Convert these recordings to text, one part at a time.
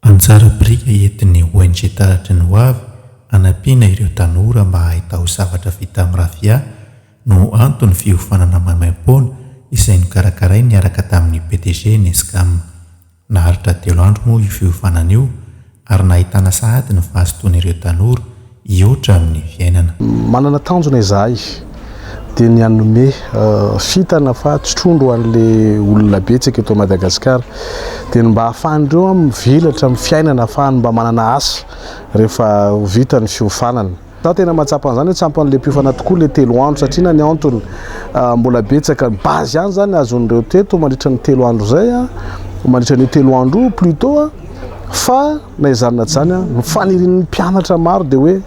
Anjara biriky entin'ny ONG Taratry ny Hoavy hanampiana ireo tanora mba hahay taozavatra vita amin'ny rafia no anton'ny fiofanana maimaimpoana izay nokarakarainy niaraka tamin'ny PDG Nescam. Naharitra telo andro moa io fiofanana io ary nahitana sahady ny vaha-sinton'ireo tanora hihoatra amin'ny fiainana. Manana tanjona izahay dia ny hanome fintana fa tsy trondro an'ilay olona betsaka eto Madagascar dia ny mba ahafahan'ireo mivelatra amin'ny fiainana ahafahany mba manana asa rehefa vita ny fiofanana. Za tena mahatsapa an'izany hoe tsy ampy an'ilay mpiofana tokoa ilay telo andro satria na ny antony mbola betsaka ny base ihany izany azon'ireo teto mandritra ny telo andro izay mandritra an'io telo andro io plutot fa Na izany na izany, ny fanirian'ny mpianatra maro dia hoe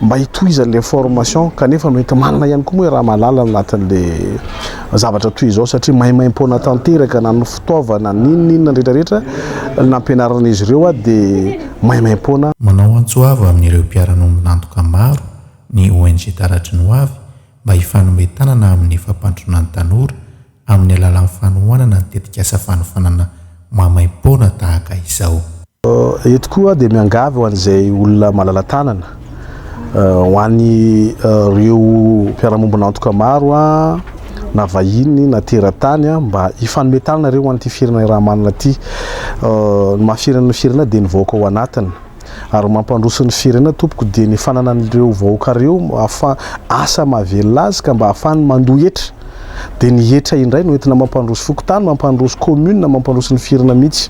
mba hitohizan'ilay formation kanefa noenti-manana ihany koa moa i Ramalala anatin'ilay zavatra toy izao satria maimaim-poana tanteraka na ny fitaovana na inona inona rehetra rehetra nampianaran'izy ireo dia maimaim-poana Manao antso avo amin'ireo mpiara-miombon'antoka maro ny ONG Taratry ny Hoavy mba hifanome tanana amin'ny fampandrosoana ny tanora amin'ny alalan'ny fanohanana ny tetikasa fanofanana maimaim-poana tahaka izao. Eto koa dia miangavy ho an'izay olona malala-tanana, ho an'ireo mpiara-mombon'antoka maro na vahiny na teratany mba hifanome tanana ireo ho an'ity firenay raha manana ity. Ny maha firenan'ny firenena dia ny vahoaka ao anatiny. Ary mampandroso ny firenena tompoko dia ny fananan'ireo vahoaka ireo afa asa mahavelona azy ka mba ahafahany mandoa hetra. Dia ny hetra indray no entina mampandroso fokontany, mampandroso commune, mampandroso ny firena mihitsy.